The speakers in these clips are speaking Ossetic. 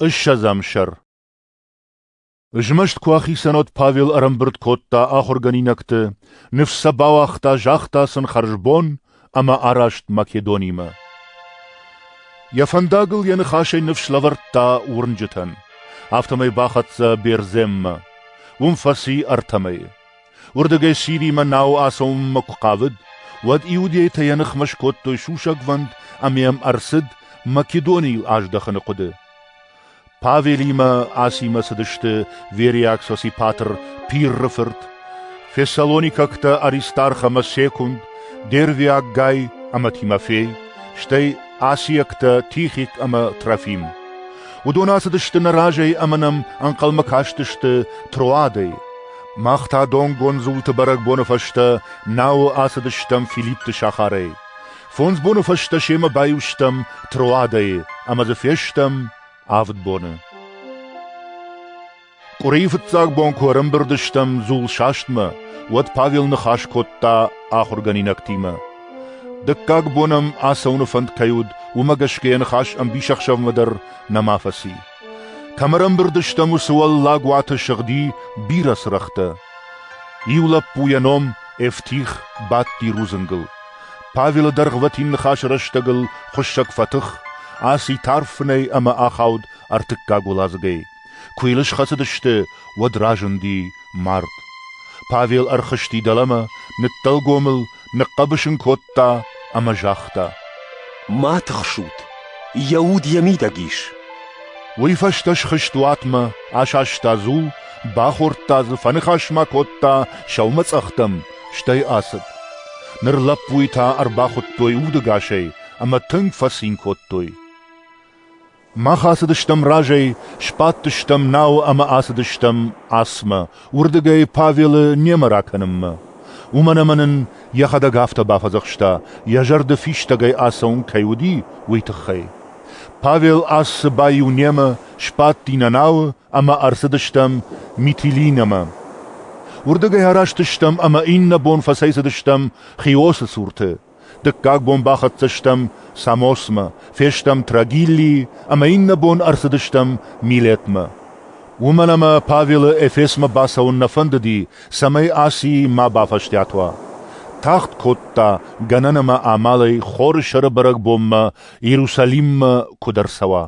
Ыссӕдзӕм сӕр Змӕст куы ахицӕн уыд, Павел ӕрӕмбырд кодта ахуыргӕнинӕгты, ныфс сӕ бауагъта, загъта сын хӕрзбон ӕмӕ араст Македонимӕ. Йӕ фӕндагыл йӕ ныхасӕй ныфс лӕвӕрдта уырнджытӕн, афтӕмӕй бахӕццӕ Берземмӕ. Уым фӕци ӕртӕ мӕйы. Уырдыгӕй Сиримӕ науы ацӕуынмӕ куы хъавыд, уӕд иудейтӕ йӕ ныхмӕ скодтой сусӕгвӕнд ӕмӕ йӕм ӕрцыд Македонийыл аздӕхыны хъуыды. Павелимӕ Асимӕ цыдысты вериаг сосипатр Пирры фырт, фессалоникӕгтӕ Аристарх ӕмӕ Секунд, дервиаг Гай ӕмӕ Тимофей, стӕй асиӕгтӕ Тихик ӕмӕ Трофим. Уыдон ацыдысты нӕ разӕй ӕмӕ нӕм ӕнхъӕлмӕ кастысты Троадӕй. Мах та донгондзулты бӕрӕгбоны фӕстӕ науы ацыдыстӕм Филиппты сахарӕй. Фондз боны фӕстӕ семӕ баиу стӕм Троадӕйы ӕмӕ дзы фестӕм авд боны. Къуырийы фыццаг бон куы ӕрӕмбырд стӕм дзул састмӕ, уӕд Павел ныхас кодта ахуыргӕнинӕгтимӕ. Дыккаг бон ӕм ацӕуыны фӕнд кӕй уыд, уымӕ гӕсгӕ йӕ ныхас ӕмбисӕхсӕвмӕ дӕр нӕма фӕци. Кӕм ӕрӕмбырд стӕм, уыцы уӕллаг уаты сыгъди бирӕ цырӕгътӕ. Иу лӕппу йӕ ном Эфтих бадти рудзынгыл. Павелы дӕргъвӕтин ныхасы рӕстӕгыл хуыссӕг фӕтых, аци тарф фынӕй ӕмӕ ахауд ӕртыккаг уӕладзыгӕй. Куы йыл схӕцыдысты, уӕд разынди мард. Павел ӕрхызти дӕлӕмӕ, ныддӕлгомыл ныхъхъӕбыс ын кодта ӕмӕ загъта: Ма тыхсут, йӕ уд йӕ мидӕг ис. Уый фӕстӕ схызт уатмӕ, асаста дзул, бахордта дзы, фӕныхас ма кодта сӕумӕцъӕхтӕм, стӕй ацыд. Ныр лӕппуйы та ӕрбахуыдтой удӕгасӕй ӕмӕ тынг фӕцин кодтой. Мах ацыдыстӕм разӕй, сбадтыстӕм науы ӕмӕ ацыдыстӕм асмӕ, уырдыгӕй Павелы немӕ ракӕнынмӕ. Уымӕн ӕмӕ нын йӕхӕдӕг афтӕ бафӕдзӕхста, йӕ зӕрды фистӕгӕй ацӕуын кӕй уыди, уый тыххӕй. Павел ассы баиу немӕ, сбадти нӕ науы ӕмӕ ӕрцыдыстӕм Митилинӕмӕ. Уырдыгӕй араст стӕм ӕмӕ иннӕ бон фӕцӕйцыдыстӕм Хиосы цурты. Дыккаг бон бахӕццӕ стӕм Самосмӕ, фестӕм Трагиллийы ӕмӕ иннӕ бон ӕрцыдыстӕм Милетмӕ. Уымӕн ӕмӕ Павелы Эфесмӕ бацӕуын нӕ фӕндыди, цӕмӕй Аци ма бафӕстиат уа. Тагъд кодта, гӕнӕн ӕмӕ амалӕй хоры сӕры бӕрӕгбонмӕ Иерусалиммӕ куыд ӕрцӕуа.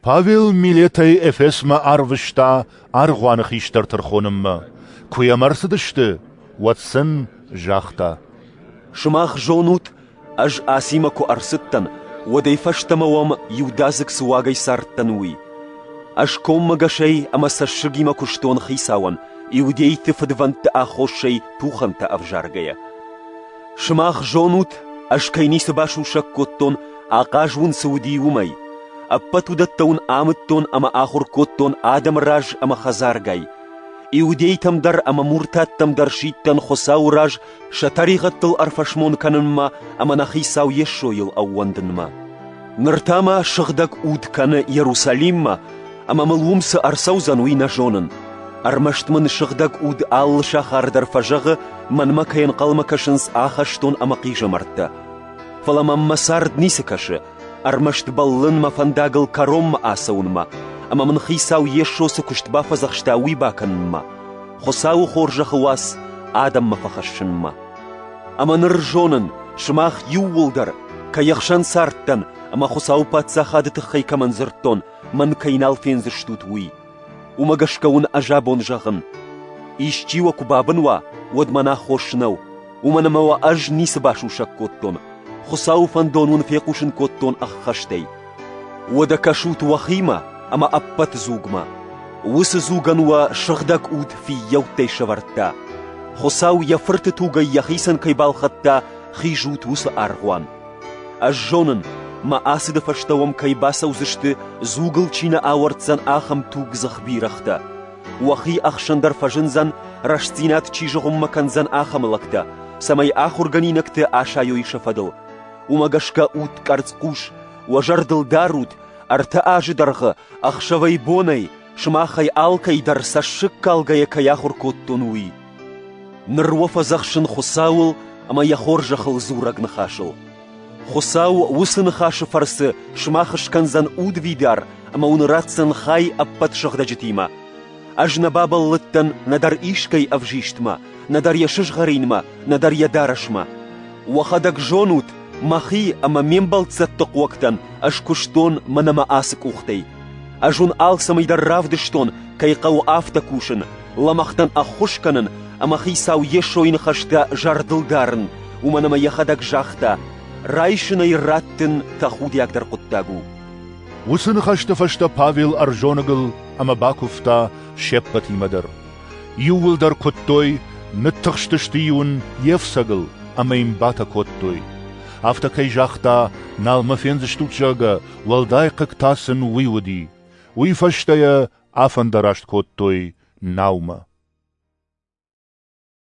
Павел милӕтӕй Эфесмӕ арвыста аргъуаны хистӕр тӕрхонынмӕ. Куы йӕм ӕрцыдысты, уӕд сын загъта: «Сымах зонут, ӕз Асимӕ куы ӕрцыдтӕн, уӕдӕй фӕстӕмӕ уӕм иудадзыг цы уагӕй цардтӕн, уый. Ӕз коммӕгӕсӕй ӕмӕ цӕссыгимӕ куыстон Хицауӕн, иудейты фыдвӕндты аххосӕй тухӕнтӕ ӕвзаргӕйӕ. Сымах зонут, ӕз кӕй ницы басусӕг кодтон, ахъаз уын цы уыди, уымӕй. Ӕппӕт уыдӕттӕ уын амыдтон ӕмӕ ахуыр кодтон адӕмы раз ӕмӕ хӕдзаргай. Иудейтӕм дӕр ӕмӕ муртаттӕм дӕр сидтӕн Хуыцауы раз сӕ тӕригъӕдтыл ӕрфӕсмон кӕнынмӕ ӕмӕ нӕ Хицау Йесойыл ӕууӕндынмӕ. Ныр та мӕ сыгъдӕг уд кӕны Иерусалиммӕ, ӕмӕ мыл уым цы ӕрцӕудзӕн, уый нӕ зонын. Ӕрмӕст мын сыгъдӕг уд алы сахар дӕр фӕзӕгъы, мӕнмӕ кӕй ӕнхъӕлмӕ кӕсынц ахӕстон ӕмӕ хъизӕмӕрттӕ. Фӕлӕ мӕм мӕ цард ницы кӕсы, ӕрмӕст бӕллын мӕ фӕндагыл кӕронмӕ ацӕуынмӕ, ӕмӕ мын Хицау Йесо цы куыст бафӕдзӕхста, уый бакӕнынмӕ, Хуыцауы хорзӕхы уац адӕммӕ фӕхӕссынмӕ. Ӕмӕ ныр зонын, сымах иууылдӕр, кӕй ӕхсӕн цардтӕн ӕмӕ Хуыцауы Паддзахады тыххӕй кӕмӕн дзырдтон, мӕн кӕй нал фендзыстут, уый. Уымӕ гӕсгӕ уын ӕз абон зӕгъын, исчи уӕ куы бабын уа, уӕд мӕн аххос нӕу, уымӕн ӕмӕ уӕ ӕз ницы басусӕг кодтон, Хуыцауы фӕндон уын фехъусын кодтон ӕххӕстӕй. Уӕдӕ кӕсут уӕхимӕ ӕмӕ ӕппӕт дзугмӕ. Уыцы дзугӕн уӕ сыгъдӕг уд фиййӕуттӕй сӕвӕрдта. Хуыцау йӕ фырты тугӕй йӕхицӕн кӕй балхӕдта, хизут уыцы аргъуан. Ӕз зонын, мӕ ацыды фӕстӕ уӕм кӕй бацӕудзысты, дзугыл чи нӕ ауӕрддзӕн, ахӕм тугдзых бирӕгътӕ. Уӕхи ӕхсӕн дӕр фӕзындзӕн, рӕстдзинад чи зыгъуыммӕ кӕндзӕн, ахӕм лӕгтӕ, цӕмӕй ахуыргӕнинӕгты асайой сӕ фӕдыл. Уымӕ гӕсгӕ ут къӕрцхъус, уӕ зӕрдыл дарут, ӕртӕ азы дӕргъы, ӕхсӕвӕй-бонӕй, сымахӕй алкӕй дӕр цӕссыгкалгӕйӕ кӕй ахуыр кодтон, уый. Ныр уӕ фӕдзӕхсын Хуыцауыл ӕмӕ йӕ хорзӕхыл дзурӕг ныхасыл. Хуыцау уыцы ныхасы фӕрцы сымах скӕндзӕн удвидар ӕмӕ уын ратдзӕн хай ӕппӕт сыгъдӕджытимӕ. Ӕз нӕ бабӕллыдтӕн нӕдӕр искӕй ӕвзистмӕ, нӕдӕр йӕ сызгъӕринмӕ, нӕдӕр йӕ дарӕсмӕ. Уӕхӕдӕг зонут, мӕхи ӕмӕ ме мбӕлццӕтты хъуӕгтӕн ӕз куыстон мӕнӕ мӕ ацы къухтӕй. Ӕз уын алцӕмӕй дӕр равдыстон, кӕй хъӕуы афтӕ кусын, лӕмӕгътӕн ӕххуыс кӕнын ӕмӕ Хицау Йесойы ныхӕстӕ зӕрдыл дарын, уымӕн ӕмӕ йӕхӕдӕг загъта, райсын ӕй раттын тӕхудиагдӕр хъуыддаг у. Уыцы ныхӕсты фӕстӕ Павел ӕрзоныгыл ӕмӕ бакуывта се ппӕтимӕ дӕр. Иууылдӕр куыдтой, ныттыхстысты-иу ын йе фцӕгыл ӕмӕ йын батӕ кодтой. Афтӕ кӕй загъта, нал мӕ фендзыстут, зӕгъгӕ, уӕлдай хъыг та сын уый уыди. Уый фӕстӕ йӕ афӕндараст кодтой наумӕ.